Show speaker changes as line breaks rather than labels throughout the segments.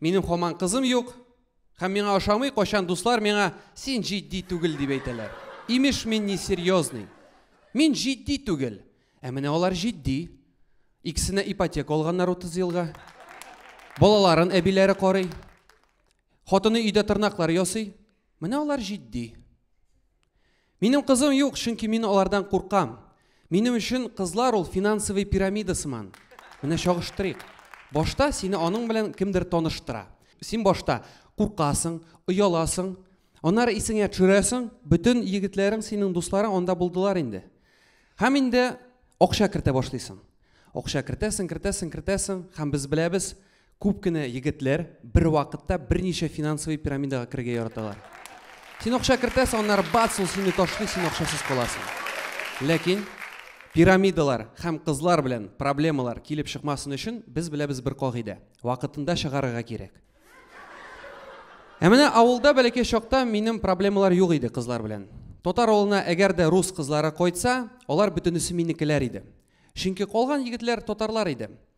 Минем хаман кызым юк, һәм миңа ошамый, кайчан дуслар миңа син җитди түгел дип әйтәләр. Имеш мин не серьезный. Мин җитди түгел. Ә менә алар җитди. Икесенә ипотека алганнар 30 елга. Балаларын әбиләре карый. Хатыны өйдә тырнаклар ясый. Менә алар җитди. Минем кызым юк, чөнки мин алардан куркам. Минем өчен кызлар ул финансовый пирамида сыман. Менә чагыштырыйк. Башта сине аның белән кемдер таныштыра. Син башта куркасың, ояласың, аннары исеңә төшерәсең, бөтен егетләрең, синең дусларың анда булдылар инде. Һәм инде акча кертә башлыйсың. Акча кертәсең, кертәсең, кертәсең, һәм без беләбез, Күп кенә егетләр бервакытта берничә финансовый пирамидага керергә яраталар. Син акча кертәсең, аннары бац, ул сине ташлый, син акчасыз каласың. Ләкин пирамидалар һәм кызлар белән проблемалар килеп чыкмасын өчен без беләбез бер кагыйдә, вакытында чыгарырга кирәк. Ә менә авылда бәләкәй чакта минем проблемалар юк иде кызлар белән. Татар авылына әгәр дә рус кызлары кайтса, алар бөтенесе минекеләр иде. Чөнки калган егетләр татарлар иде.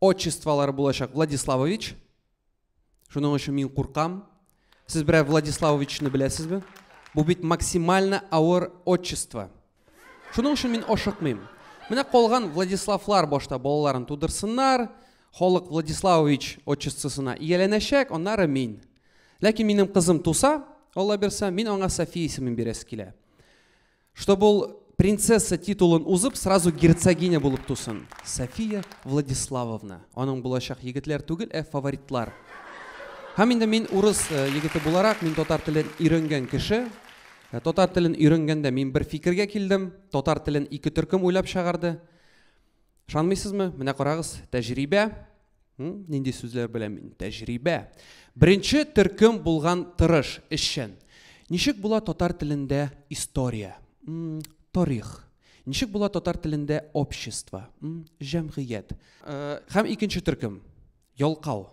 Отчестволары булачак Владиславович. Шуның өчен мин куркам. Сез берәр Владиславовичны беләсезме? Бу бит максимально авыр отчество. Шуның өчен мин ашыкмыйм. Менә калган Владиславлар башта балаларын тудырсыннар, халык Владиславович отчествосына ияләнәчәк, аннары мин. Ләкин минем кызым туса, Алла бирса, мин аңа София исемен бирәсе килә. Чтобы ул принцесса титулын узып, сразу герцогиня булып тусын. София Владиславовна. Аның булачак егетләр түгел, ә фаворитлар. Һәм инде мин урыс э, егете буларак, мин татар телен өйрәнгән кеше. Э, татар телен өйрәнгәндә мин бер фикергә килдем. Татар телен ике төркем уйлап чыгарды. Шанмыйсызмы? Менә карагыз, тәҗрибә. Нинди сүзләр белән мин? Тәҗрибә. Беренче төркем булган тырыш, эшчән. Ничек була татар телендә история? Тарих. Ничек була татар телендә общество? Җәмгыять. Э, һәм икенче төркем, ялкау.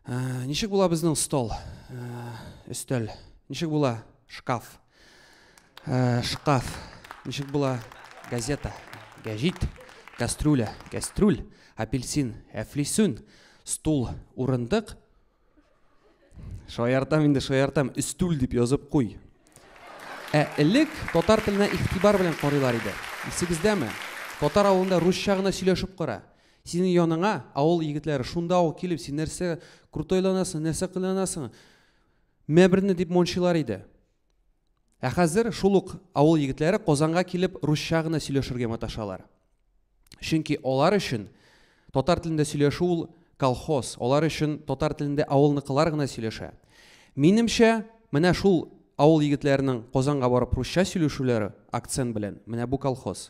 Э, ничек була безнең стол? Э, өстәл. Ничек була шкаф? Э, шкаф. Ничек була? Газета, гәҗит, кастрюля, кәстрүл, апельсин, әфлисүн, стул, урындык. Шаяртам инде, шаяртам, өстүл дип язып куй. Ә элек татар теленә игътибар белән карыйлар иде. Исегездәме? Татар авылында русча гына сөйләшеп кара. Синең яныңа авыл егетләре шунда ук килеп, син нәрсә крутой ланасың, нәрсә кыланасың? Мебрне дип мончыйлар иде. Ә хәзер шул ук авыл егетләре Казанга килеп русча гына сөйләшергә маташалар. Чөнки алар өчен татар телендә сөйләшү ул колхоз, алар өчен татар телендә авылныкылар гына сөйләшә. Минемчә, менә шул авыл егетләренең Казанга барып русча сөйләшүләре, акцент белән, менә бу колхоз.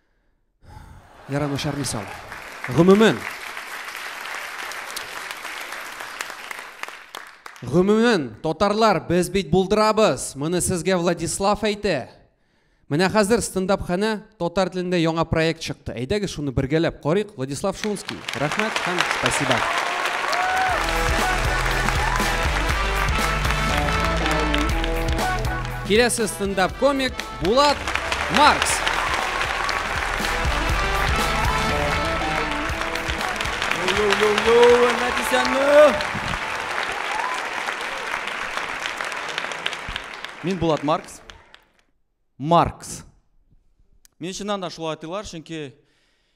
Яра начар мисал. Гомумән, Гомумән, татарлар, без бит булдырабыз. Моны сезгә Владислав әйтә. Менә хәзер стендап-ханә татар телендә яңа проект чыкты. Әйдәгез шуны бергәләп карыйк. Владислав Шунский. Рәхмәт һәм спасибо. Киләсе стендап-комик Булат
Маркс. Мин Булат Маркс. Маркс. Мин чыннан да шулай атыйлар, чөнки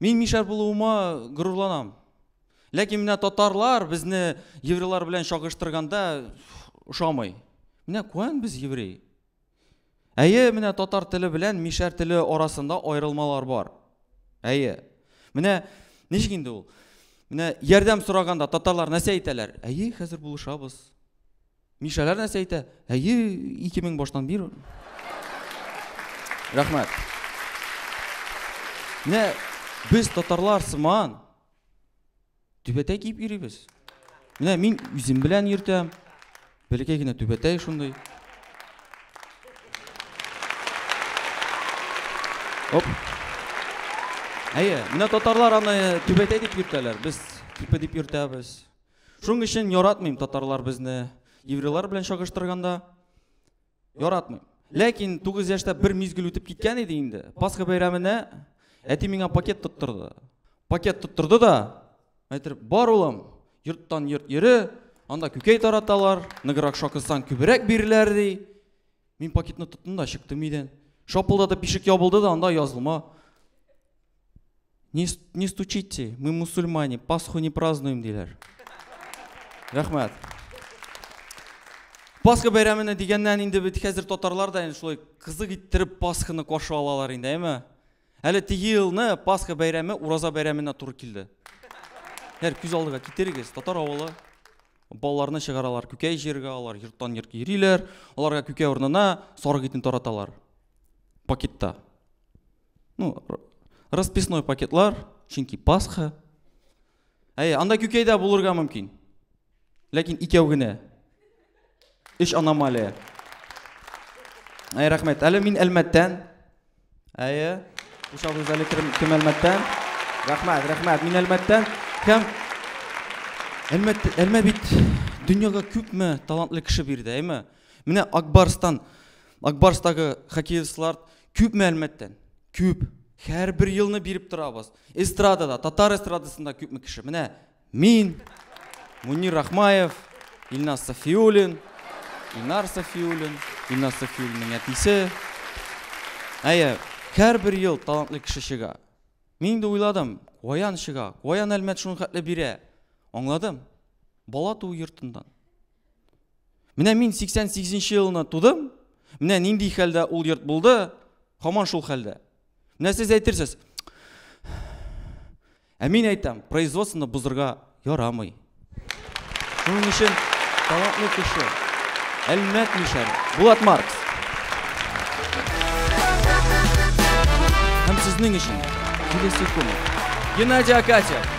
Мин мишәр булуыма горурланам. Ләкин менә татарлар безне еврейлар белән чагыштырганда ошамый. Менә куән без еврей. Әйе, менә татар теле белән мишәр теле арасында аерылмалар бар. Әйе. Менә ничек инде ул? Менә ярдәм сораганда татарлар нәрсә әйтәләр? Әйе, хәзер булышабыз. Мишәләр нәрсә әйтә? Әйе, 2000 баштан бир. Рәхмәт. Менә без татарлар сыман түбәтәй киеп йөрибез. Менә мин үзем белән йөртәм. Бәләкәй генә түбәтәй шундый. Оп. Әйе, менә татарлар аны түбәтәй дип йөртәләр. Без типа дип йөртәбез. Шуның өчен яратмыйм татарлар безне еврейлар белән чагыштырганда. Яратмыйм. Ләкин 9 яшьтә бер мизгел үтеп киткән иде инде. Пасха бәйрәменә әти миңа пакет тоттырды. Пакет тоттырды да, әйтер, бар улым, йорттан йорт йөре, анда күкәй тараталар, ныграк шакысаң күбрәк биреләр ди. Мин пакетны тоттым да чыктым өйдән. Шапылдатып ишек ябылды да анда язылма Не, не стучите, мы мусульмане, Пасху не празднуем, диләр. Рәхмәт. Пасха бәйрәменә дигәннән инде бит хәзер татарлар да инде шулай кызык иттереп Пасханы каршы алалар инде, әйме? Әле теге елны Пасха бәйрәме Ураза бәйрәменә туры килде. Һәр күз алдыга китерегез, татар авылы балаларны чыгаралар күкәй җиргә, алар йорттан йортка йөриләр, аларга күкәй урынына сарык итен тараталар. Пакетта. Ну, расписной пакетлар, чөнки Пасха. Әй, анда күкәйдә булырга мөмкин. Ләкин икәү генә. Өч аномалия. Әй, рәхмәт. Әле мин Әлмәттән. Әйе. Ушал үзәле кем Әлмәттән? Рәхмәт, рәхмәт. Мин Әлмәттән. Һәм Әлмәт, Әлмә бит дөньяга күпме талантлы кеше бирде, әйме? Менә Акбарстан, Акбарстагы хоккеистлар Күпме әлмәттән? Күп. Һәрбер елны биреп торабыз. Эстрадада, татар эстрадасында күпме кеше? Менә мин, Мунир Рахмаев, Илназ Сафиуллин, Илнар Сафиуллин, Илназ Сафиуллинның әтисе. Әйе, һәрбер ел талантлы кеше чыга. Мин инде уйладым, каян чыга, каян әлмәт шуны хәтле бирә. Аңладым. Бала туу йортыннан. Менә мин 88 нче елына тудым, менә нинди хәлдә ул йорт булды, хаман шул хәлдә. Менә сез әйтерсез, ә мин әйтәм, производствоны бозырга ярамый. Шуның өчен талантлы кеше, Әлмәт Мишәр, Булат Маркс. Һәм сезнең өчен килесе көн. Геннадий Акатьев.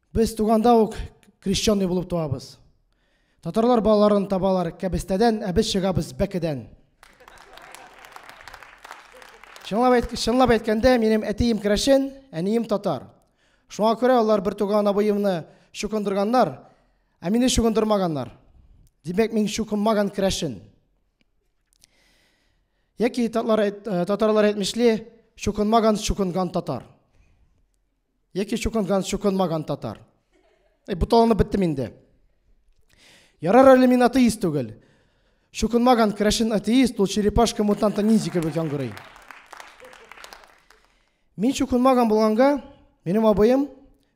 Без туганда ук крещенный булып туабыз. Татарлар балаларын табалар кәбестәдән, ә без чыгабыз бәкедән. Чынлап, әйт, чынлап әйткәндә, минем әтием керәшен, әнием татар. Шуңа күрә алар бер туган абыемны чукындырганнар, ә мине чукындырмаганнар. Димәк, мин чукынмаган керәшен. Яки татарлар, э, татарлар әйтмешли, чукынмаган, чукынган татар. Яки чукынган, чукынмаган татар. Эй, бу таланып беттем инде. Ярар әле мин атеист түгел. Чукынмаган крәшен атеист, ул черепашка мутанта ниндзя кебек яңгырый. Мин чукынмаган булганга, минем абыем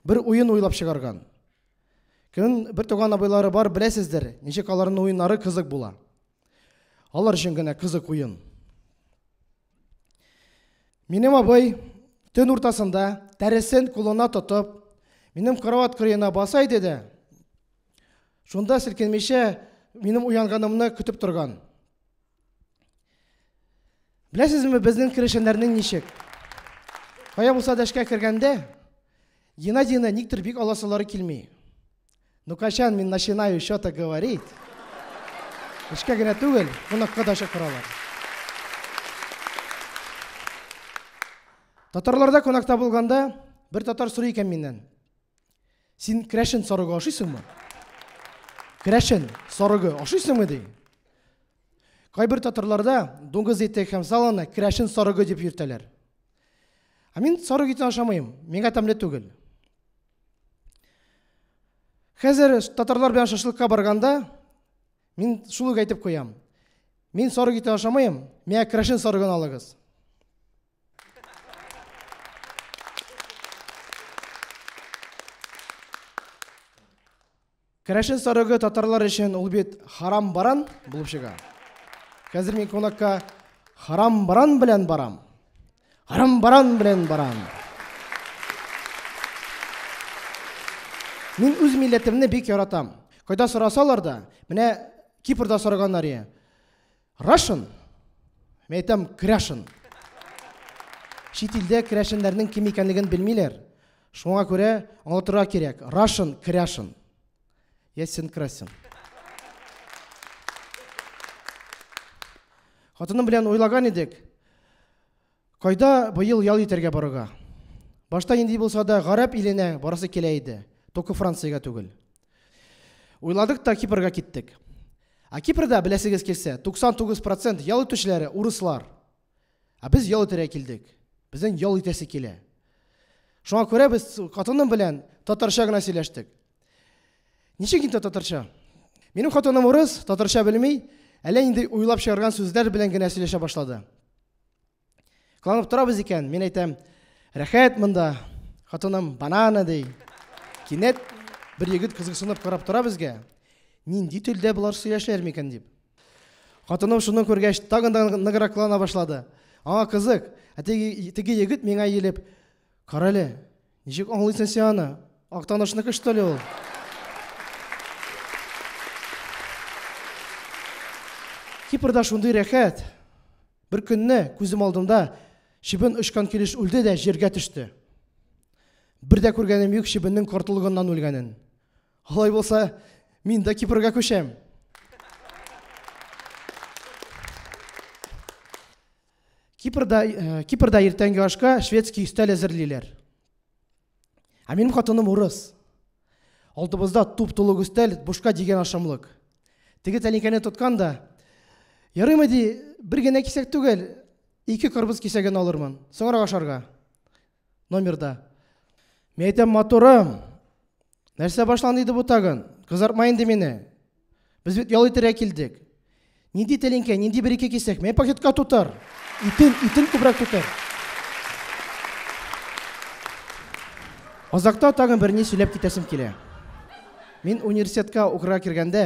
бер уен уйлап чыгарган. Көн бер туган абыйлары бар, беләсездер, ничек аларның уеннары кызык була. Алар өчен генә кызык уен. Минем абый төн уртасында тәресен кулына тотып, минем кроват кырыена баса иде дә, шунда селкенмичә минем уянганымны көтеп торган. Беләсезме, безнең керешеннәрнең ничек? Кая булса да эшкә кергәндә, Геннадийны никтер бик аласылары килми. Ну, качан мин начинаю что-то говорить? Эшкә генә түгел, кунакка да чакыралар. Татарларда кунакта булганда бер татар сорый икән миннән. Син крәшен сарыгы ашыйсыңмы? Крәшен сарыгы ашыйсыңмы ди? Кайбер татарларда дуңгыз ите һәм саланы крәшен сарыгы дип йөртәләр. Ә мин сарык итен ашамыйм, миңа тәмле түгел. Хәзер татарлар белән шашлыкка барганда мин шул ук әйтеп куям. Мин сарык итен ашамыйм, миңа крашен сарыгын алыгыз. Керәшен сарыгы татарлар өчен ул бит харам баран булып чыга. Хәзер мин кунакка харам баран белән барам. Харам баран белән барам. Мин үз милләтемне бик яратам. Кайда сорасалар да, менә Кипрда сораганнар ие. Russian. Мин әйтәм, крәшен. Чит илдә крәшеннәрнең кем икәнлеген белмиләр. Шуңа күрә аңлатырга кирәк. Russian, крәшен. Ясен красен. Хатыным белән уйлаган идек. Кайда быел ял итәргә барырга? Башта нинди булса да гарәп иленә барасы килә иде. Только Франциягә түгел. Уйладык та Кипрга киттек. Ә Кипрда, беләсегез килсә, 99% ял итүчеләре урыслар. Ә без ял итәргә килдек. Безнең ял итәсе килә. Шуңа күрә без хатыным белән татарча гына сөйләштек. Ничек инде татарча? Минем хатыным урыс, татарча белми, әллә нинди уйлап чыгарган сүзләр белән генә сөйләшә башлады. Кыланып торабыз икән, мин әйтәм, рәхәт монда. Хатыным банана ди. Кинәт бер егет кызыксынып карап тора безгә. Нинди телдә болар сөйләшәләр микән дип. Хатыным шуны күргәч, тагын да ныграк кылана башлады. Аңа кызык, ә теге, теге егет миңа иелеп, карале, Ничек аңлыйсың син аны? Актанышныкы что ли ул? Кипрда шундый рәхәт. Бер көнне күзем алдында чебен очкан килеш үлде дә җиргә төште. Бер дә күргәнем юк чебеннең кортлыгыннан үлгәнен. Алай булса, мин дә Кипрга күчәм. Кипрда, э, Кипрда иртәнге ашка шведский өстәл әзерлиләр. Ә минем хатыным урыс. Алдыбызда туп-тулы өстәл, бушка дигән ашамлык. Теге тәлинкәне тоткан да, ярыймы ди, бер генә кисәк түгел, ике кырбыз кисәген алырмын, соңрак ашарга. номерда. Мин әйтәм, матурым, нәрсә башланды иде бу тагын? Кызартма инде мине. Без бит ял итәргә килдек. Нинди тәлинкә, нинди бер ике кисәк, мә пакетка тутыр. Итен, итен күбрәк тутыр. Азакта тагын бер ни сөйләп китәсем килә. Мин университетка укырга кергәндә,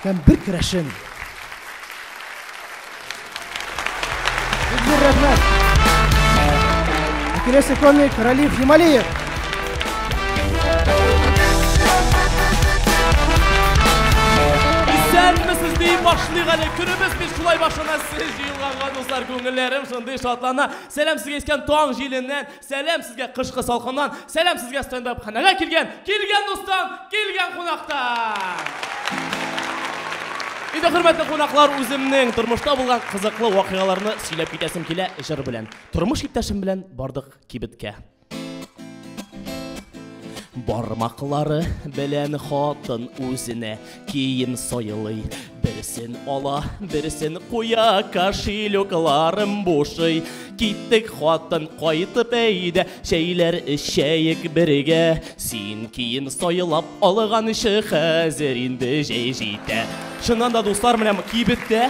Һәм бер керәшен. Бик рәхмәт. Киләсе комик Ралиф Хималиев.
Исәнмесез дип башлыйк әле. Көнебез бит шулай башлана. Сез җыелганга дуслар, күңелләрем шундый шатлана. Сәлам сезгә искән таң җиленнән. Сәләм сезгә кышкы салкыннан, сәләм сезгә стендап ханәгә килгән, килгән дустан, килгән кунактан! Иде хөрмәтле кунаклар, үземнең тормышта булган кызыклы вакыйгаларны сөйләп китәсем килә җыр белән. Тормыш иптәшем белән бардык кибеткә. Бармаклары белән хатын үзенә Кием сайлый, берсен ала, берсен куя, кошелекларым бушый. Киттек хатын кайтып әйдә, чәйләр эчәек бергә. Син кием сайлап алган ише хәзер инде җәй җитә. Чыннан да дуслар, менә кибеттә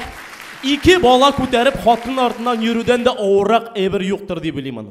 ике бала күтәреп хатын артыннан йөрүдән дә авыррак әйбер юктыр дип уйлыйм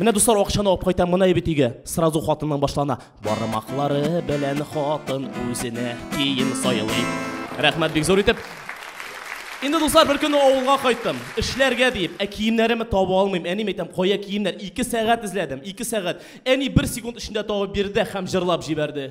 Менә дуслар акчаны алып кайтам моны әйбит өйгә. Сразу хатынның башлана. Бармаклары белән хатын үзенә кием сайлый. Рәхмәт бик зур итеп. Инде дуслар бер көнне авылга кайттым. Эшләргә диеп, ә киемнәремне таба алмыйм. Әни әйтәм, кая киемнәр? 2 сәгать эзләдем, 2 сәгать. Әни бер секунд эчендә табып бирде һәм җырлап җибәрде.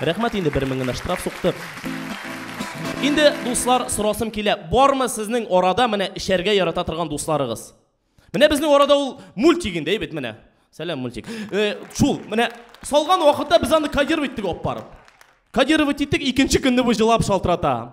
Рәхмәт инде бер мең генә штраф сукты. Инде дуслар сорасым килә, бармы сезнең арада менә эчәргә ярата торган дусларыгыз? Менә безнең арада ул мультик инде, әйбет менә. Сәлам мультик. Э, шул, менә салган вакытта без аны кодировать иттек алып барып. Кодировать иттек, икенче көнне бу җылап шалтырата.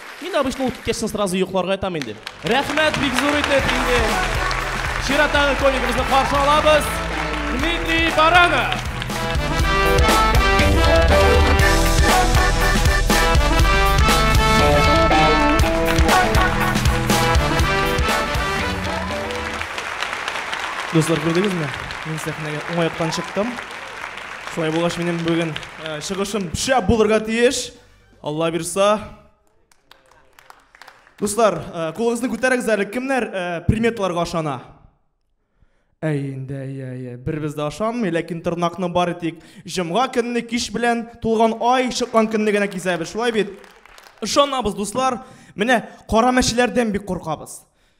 Мин обычно ул киткәчтен сразу йокларга ятам инде. Рәхмәт бик зур итеп инде. Чираттагы комигыбызны каршы алабыз. Дмитрий Баранов. Дуслар, күрдегезме? Мин сәхнәгә уңай яктан чыктым. Шулай булгач, минем бүген чыгышым шәп булырга тиеш. Алла бирса. Дуслар, э, кулыгызны күтәрегез әле, кемнәр э, приметларга ышана? Әй инде, әй, әй, әй, бербез дә ашанмый, ләкин тырнакны бары тик җомга көнне кич белән тулган ай чыккан көнне генә кисәбез, шулай бит? Ышанабыз, дуслар. Менә кара мәчеләрдән бик куркабыз.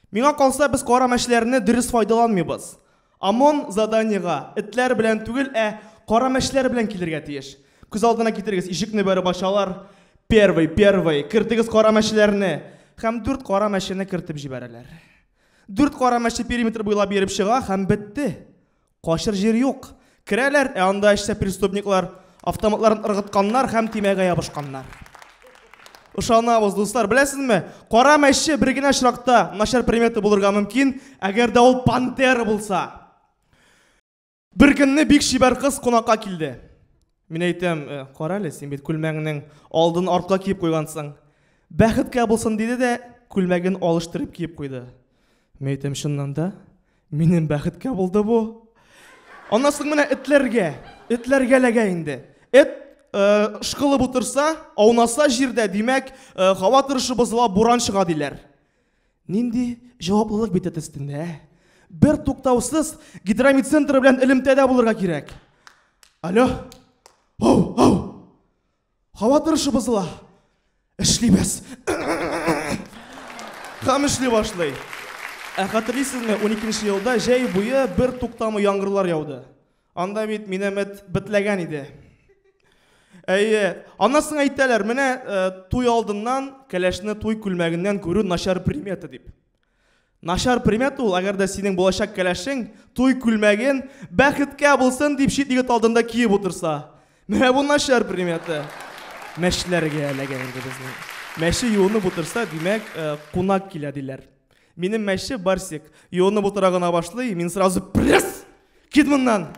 Миңа калса, без кара мәчеләрне дөрес файдаланмыйбыз. ОМОН заданиега этләр белән түгел, ә кара мәчләр белән килергә тиеш. Күз алдына китерегез, ишекне бәреп ачалар, первый, первый, кертегез кара мәчләрне! Һәм дүрт кара мәчене кертеп җибәрәләр. Дүрт кара мәче периметр буйлап йөреп чыга һәм бетте. Качыр җир юк. Керәләр, ә анда эчтә преступниклар, Автоматларын ыргытканнар һәм тимәгә ябышканнар. Ышанабыз, дуслар. Беләсезме, кара мәче бер генә очракта начар примета булырга мөмкин, әгәр дә ул пантера булса. Бер көнне бик чибәр кыз кунакка килде. Мин әйтәм, «Э, кара әле, син бит күлмәгеңнең алдын артка киеп куйгансың. Бәхеткә булсын, диде дә күлмәген алыштырып киеп куйды. Мин әйтәм, чыннан да, Минем бәхеткә булды бу. Аннан соң менә этләргә, этләргә ләгә инде. Эт э, шкылып утырса, аунаса җирдә, димәк, э, һава торышы бозыла, буран чыга диләр. Нинди җаваплылык бит эт өстендә, ә? Бер туктаусыз гидромедцентр белән элемтәдә булырга кирәк. Алло. Ау, ау. Һава торышы бозыла.
Эшлибез. Хәм эшли башлый. Ә хәтерлисезме, 12 елда җәй буе бер туктамы яңгырлар яуды. Анда бит минәмәт битләгән иде. Әйе, анасын әйтәләр, менә э, туй алдыннан кәләшне туй күлмәгеннән күрү начар примета дип. Начар примета ул, әгәр дә синең булачак кәләшең туй күлмәген бәхеткә булсын дип чит егет алдында киеп утырса. Менә бу начар примета. Мәчләргә эләгә инде безнең. Мәче юынып утырса, димәк, э, кунак килә диләр. Минем мәче Барсик. Юынып утыра гына башлый, мин сразу пресс! Кит моннан!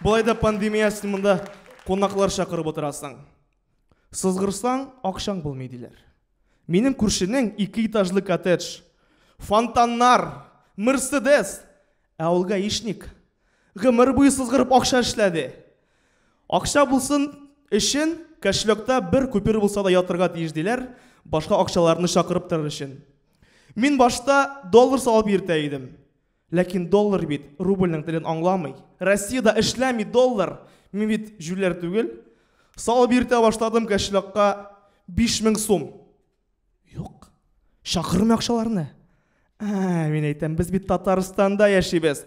Болай да пандемия, син монда кунаклар чакырып утырасың. Сызгырсаң, акчаң булмый, диләр. Минем күршенең ике этажлы коттедж, фонтаннар, Мерседес, ә ул гаишник. Гомер буе сызгырып акча эшләде. Акча булсын өчен кошелёкта бер купюр булса да ятырга тиеш, диләр, башка акчаларны чакырып торыр өчен. Мин башта доллар салып йөртә идем. Ләкин доллар бит рубльнең телен аңламый. Россиядә эшләми доллар. Мин бит җүләр түгел. Салып йөртә башладым кәшлакка биш мең сум. Юк. Чакырмый акчаларны. Ә, мин әйтәм, без бит Татарстанда яшибез.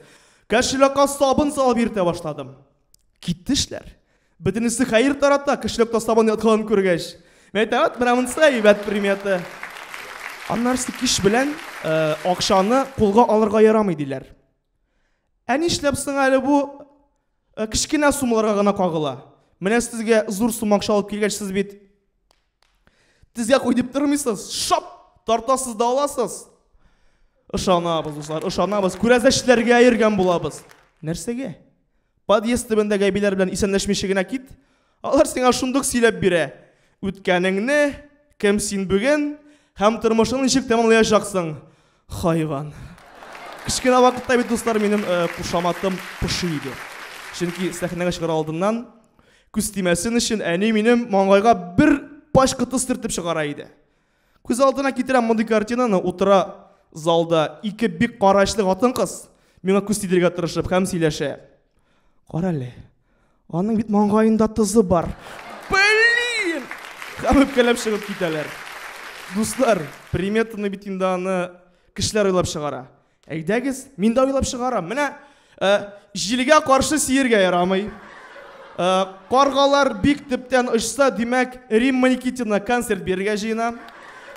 Кәшлакка сабын салып йөртә башладым. Киттешләр. Бөтенесе хәер тарата, көчләп тастабан ятканын күргәч. Мәйтәвәт, менә монысы әйбәт примета. Аннарсы кич белән э, акчаны кулга алырга ярамый диләр. Ә нишләп соң әле бу э, кечкенә суммаларга гына кагыла? Менә сезгә зур сумма акча алып килгәч, сез бит Тезгә куй дип тормыйсыз. Шап! Тартасыз да аласыз. Ышанабыз, дуслар, ышанабыз. Күрәзәчләргә йөргән булабыз. Нәрсәгә? Подъезд төбендәге әбиләр белән исәнләшмичә генә кит. Алар сиңа шундук сөйләп бирә. Үткәнеңне, кем син бүген һәм тормышың ничек тәмамлаячаксың. Хайван. Кечкенә вакытта бит, дуслар, минем э, кушаматым поши иде. Чөнки сәхнәгә чыгар алдыннан күз тимәсен өчен әни минем маңгайга бер пач кытыс төртеп чыгара иде. Күз алдына китерәм мондый картинаны, утыра залда ике бик карачлы хатын-кыз миңа күз тидергә тырышып һәм сөйләшә. Кара әле, Аның бит маңгаенда тызы бар. Блин! Һәм үпкәләп чыгып китәләр. Дуслар, приметаны бит инде аны кешеләр уйлап чыгара. Әйдәгез, мин дә уйлап чыгарам. Менә э, җилгә каршы сиергә ярамый. Э, каргалар бик төптән очса, димәк, Римма Никитина концерт бирергә җыена.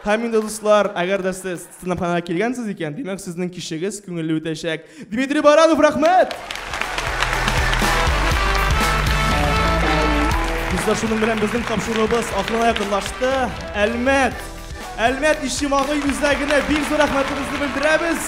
Һәм инде, дуслар, әгәр дә сез стендапханага килгәнсез икән, димәк, сезнең кичегез күңелле үтәчәк. Дмитрий Баранов, рәхмәт! Бездә шуның белән безнең тапшыруыбыз ахырына якынлашты. Әлмәт! Әлмәт Ишемагый үзәгенә бик зур рәхмәтебезне белдерәбез.